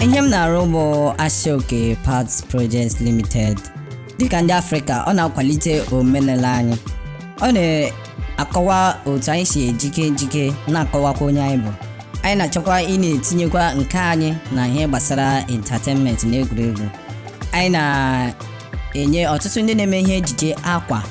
ihe m na-arụ bụ Aso Oke Parts Projects Limited dịka ndị Afrịka ọ na-akwalite omenala anyị ọ na akọwa otu anyị si ejike ejike na-akọwakwa onye anyị bụ anyị na-achọkwa ị na-etinyekwa nke anyị na ihe gbasara entertainment na egwuregwu anyị na-enye ọtụtụ ndị na-eme ihe ejije akwa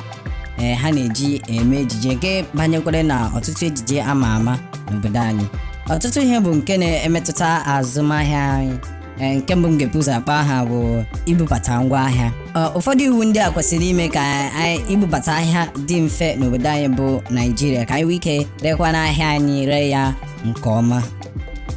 ee ha na-eji eme ejije nke banyekwara na ọtụtụ ejije ama ama n'obodo anyị ọtụtụ ihe bụ nke na-emetụta azụmahịa anyị Ee, nke mbụ m ga-ebu ụzọ akpa aha bụ ibubata ngwa ahịa Ee, ụfọdụ iwu ndị a kwesịrị ime ka anyị ibubata ahịa dị mfe n'obodo anyị bụ naijiria ka anyị nwee ike rekwaa ahịa anyị ree ya nke ọma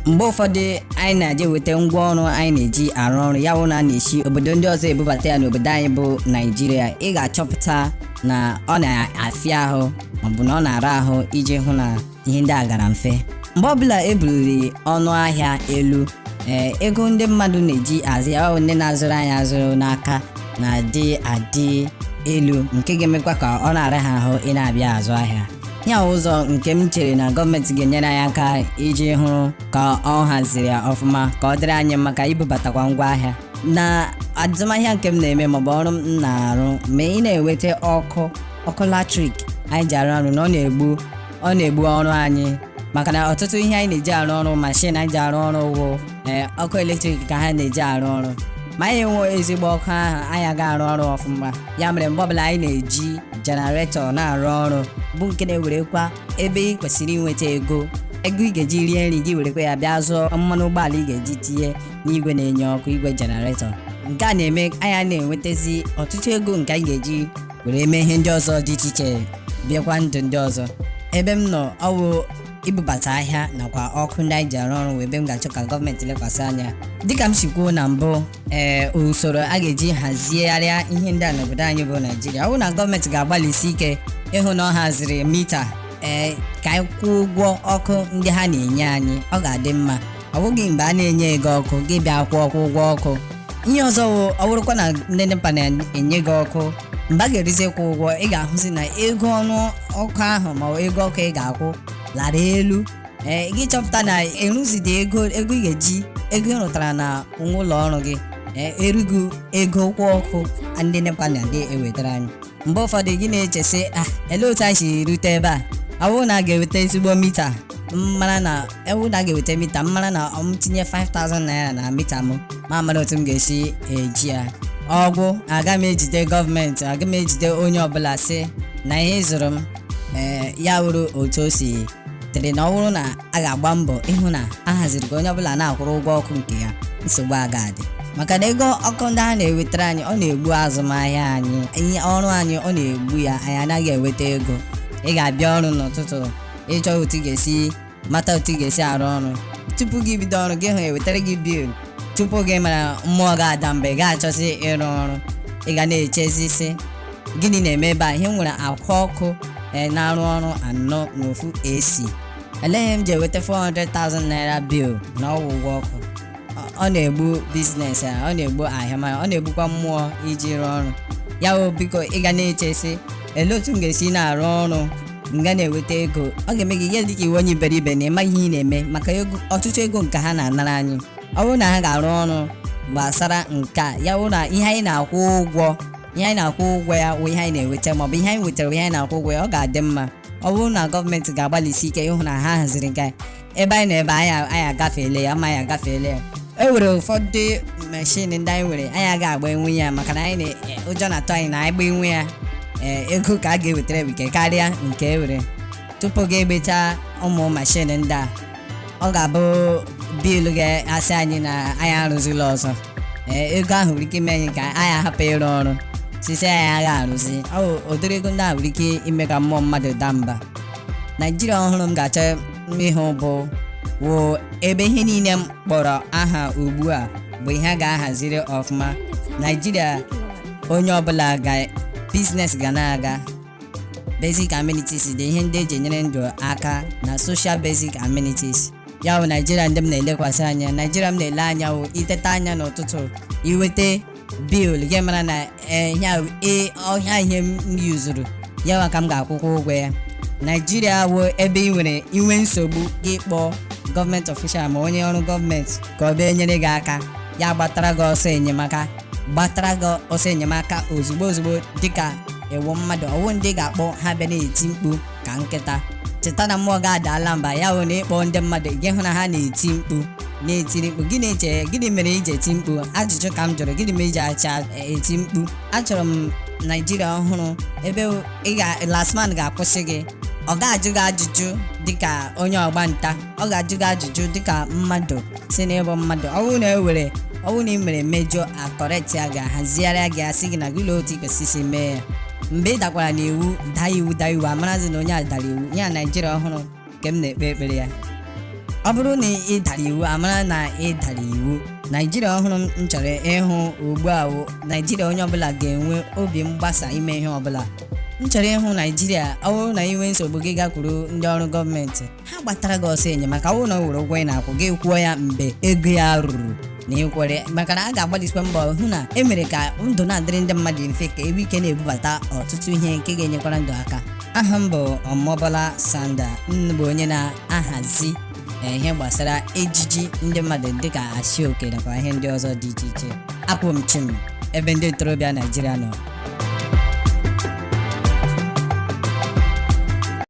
mgbe ụfọdụ anyị na-eje weta ngwa ọrụ anyị na-eji arụ ọrụ ya wụ na a na-esi obodo ndị ọzọ ebubata ya n'obodo anyị bụ naijiria ị ga-achọpụta na ọ na-afịa ahụ maọbụ na ọ na-ara ahụ iji hụ na ihe ndị a gara mfe mgbe ọbụla e buliri ọnụ ahịa elu ee ego ndị mmadụ na-eji azụ ya ọ ndị na-azụrụ anyị azụrụ n'aka na-adị adị elu nke ga-emekwa ka ọ na-ara ha ahụ ị na-abịa azụ ahịa ya ụzọ nke m chere na gọọmenti ga-enyere anyị aka iji hụrụ ka ọ haziri ya ọfụma ka ọ dịrị anyị maka ibubatakwa ngwa ahịa na azụmahịa nke m na-eme maọbụ ọrụ m na-arụ ma ị na-enweta ọkụ ọkụ latrik anyị ji arụ ọrụ na ọ na-egbu ọ na-egbu ọrụ anyị maka na ọtụtụ ihe anyị na-eji arụ ọrụ mashin anyị ji arụ ọrụ wụ ee ọkụ eletrik ka ha na-eji arụ ọrụ ma anyị enwe ezigbo ọkụ ahụ anyị aga arụ ọrụ ọfụma ya mere mgbe ọbụla anyị na-eji jenaretọ na-arụ ọrụ bụ nke na-ewerekwa ebe ị kwesịrị inweta ego ego ị ga-eji rie nri gị werekwa ya bịa zụọ mmanụ ụgbọala ị ga-eji tinye n'igwe na-enye ọkụ igwe jenaretọ nke a na-eme anyị na-enwetazi ọtụtụ ego nke anyị ga-eji were mee ihe ndị ọzọ dị iche iche biekwa ndụ ndị ọzọ ebe m nọ ọ wụ ibubata ahịa nakwa ọkụ ndị anyị ji arụ ọrụ ebe m ga-achọ ka gọọmenti lekwasị anya dịka m si kwuo na mbụ ee usoro a ga-eji hazigharịa ihe ndị a n'obodo anyị bụ naijiria ọ bụ na gọọmenti ga-agbalịsi ike ịhụ na ọ haziri mita ee ka anyị kwụọ ụgwọ ọkụ ndị ha na-enye anyị ọ ga-adị mma ọ bụghị mgbe a na-enyeghị ọkụ gị abịa kwụọ ọkụ ụgwọ ọkụ ihe ọzọ wụ ọ bụrụkwa na ndị nepa na-enye gị ọkụ mgbe a ga-erizikwa ụgwọ ị ga-ahụzi na ego ọnụ ọkụ ahụ ma ọ ego ọkụ ị ga-akwụ lara elu ee gị chọpụta na eruzidi ego ego ị ga-eji ego ị rụtara na nwa ụlọ ọrụ gị ee erughị ego ụgwọ ọkụ ndị nepa na-adị ewetara anyị mgbe ụfọdụ gị na-eche sị ah ele otu anyị si rute ebe a ọ bụrụ na a ga-eweta ezigbo mita m mara na ọ wụ na a ga-eweta mita m mara na m tinye 5000 naira na mita m mụ amara otu m ga-esi eji ya ọ gwụ aga m ejide gọọmenti aga m ejide onye ọbụla sị na ihe ị zụrụ m ee ya wụrụ otu o si dịrị na ọ bụrụ na a ga-agba mbọ ịhụ na a haziri ka onye ọbụla na-akwụrụ ụgwọ ọkụ nke ya nsogbu aga adị maka na ego ọkụ ndị a na-ewetara anyị ọ na-egbu azụmahịa anyị ihe ọrụ anyị ọ na-egbu ya anyị anaghị enweta ego ị ga-abịa ọrụ n'ụtụtụ ị chọ otu ị ga-esi mata otu ị ga-esi arụ ọrụ tupu gị bido ọrụ gị hụ e wetara gị bil tupu gị mara mmụọ gị adaa mgbe ị ga-achọzi ịrụ ọrụ ị ga na-echezi sị gịnị na-eme ebe a ihe m nwere akwa ọkụ ee na-arụ ọrụ anọ na ofu AC elee ihe m ji eweta 400,000 naira bill na ọ wụ ụgwọ ọkụ Ọ- ọ na-egbu biznes ya ọ na-egbu ahịa ma ọ na-egbukwa mmụọ iji rụọ ọrụ ya wụ biko ị ga na-eche sị elee otu m ga-esi na-arụ ọrụ m ga na-eweta ego ọ ga-eme gị ihe dịka ị wụ onye iberibe na ị maghị ihe ị na-eme maka ego ọtụtụ ego nke ha na-anara anyị ọ bụrụ na ha ga-arụ ọrụ gbasara nke a ya wụ na ihe anyị na-akwụ ụgwọ ihe anyị na-akwụ ụgwọ ya wụ ihe anyị na-eweta maọbụ ihe anyị wetara wụ ihe anyị na-akwụ ụgwọ ya ọ ga-adị mma ọ bụrụ na gọọmenti ga-agbalịsi ike ịhụ na ha haziri nke a, ebe anyị nọ ebe a, anyị anyị agafeele ya ma anyị agafeele ya e nwere ụfọdụ mashin ndị anyị nwere anyị agaghị agbanwu ya maka na anyị na- e, ụjọ na-atụ anyị na anyị gbanwuo ya ee, ego ọkụ a ga-ewetara bụ ike karịa nke e were tupu gị agbacha ụmụ mashin ndị a ọ ga-abụ bil ga-asị anyị na anyị arụzila ọzọ ee ego ahụ nwere ike ime anyị ka anyị ahapụ ịrụ ọrụ sị sị anyị agha arụzi ọ bụ ụdịrị ego ndị ahụ nwere ike ime ka mmụọ mmadụ daa mba naijiria ọhụrụ m ga-achọ ịhụ bụ wụ ebe ihe niile m kpọrọ aha ugbu a bụ ihe a ga-ahaziri ọfụma naijiria onye ọbụla ga biznes ga na-aga basic amenities dị ihe ndị e ji enyere ndụ aka na social basic amenities ya bụ naijiria ndị m na-elekwasị anya naijiria m na-ele anya wụ ị teta anya n'ụtụtụ i weta bil gị mara na eh, ihe a- eh, ọ ihe a ihe m yuzuru ya nwa ka m ga-akwụkwa ụgwọ ya naijiria wụ ebe i nwere i nwee nsogbu gị kpọọ government official ma onye ọrụ gọọmenti ka ọ bịa nyere gị aka ya agbatara gị ọsọ enyemaka gbatara gị ọsọ enyemaka ozugbo ozugbo dịka ị wụ mmadụ ọ wụ ndị ga-akpọ ha bịa na-eti mkpu ka nkịta cheta na mmụọ gị adaala mba ya wụ na ị kpọọ ndị mmadụ gị hụ na ha na-eti mkpu na-etiri mkpu gị na-eche gịnị mere i ji eti mkpu ajụjụ ka m jụrụ gịnị mere i ji acha eti mkpu achọrọ m naijiria ọhụrụ ebe ị ga LASTMA ga-akwụsị gị ọ ga-ajụ gị ajụjụ dịka onye ọgba nta ọ ga-ajụ gị ajụjụ dịka mmadụ si n'ịbụ mmadụ ọ bụrụ na e were ọ bụrụ na ị mere mejọ a correctia gị ahazigharịa gị asị gị na gị lee otu i kwesịrị isi mee ya mgbe ị dakwara n'iwu daa iwu daa iwu amarazi na onye a dara iwu ya naijiria ọhụrụ nke m na-ekpe ekpere ya ọ bụrụ na ị dara iwu amara na ị dara iwu naijiria ọhụrụ m chọrọ ịhụ ugbu a wụ naijiria onye ọbụla ga-enwe obi mgbasa ime ihe ọbụla m chọrọ ịhụ naijiria ọ bụrụ na ị nwee nsogbu gị gakwuru ndị ọrụ gọọmenti ha gbatara gị ọsọ enyemaka ọ wụ na o nwere ụgwọ ị na-akwụ gị kwụọ ya mgbe ego ya ruru na ịkwere maka na a ga-agbalịsikwa mbọ hụ na e mere ka ndụ na-adịrị ndị mmadụ mfe ka e nwee ike na-ebubata ọtụtụ ihe nke ga-enyekwara ndụ aka aha m bụ omobola sanda m bụ onye na-ahazi eh, ihe gbasara ejiji ndị mmadụ dịka aso oke nakwa ihe ndị ọzọ dị iche iche akwụ m chịm ebe ndị ntorobịa naijiria nọ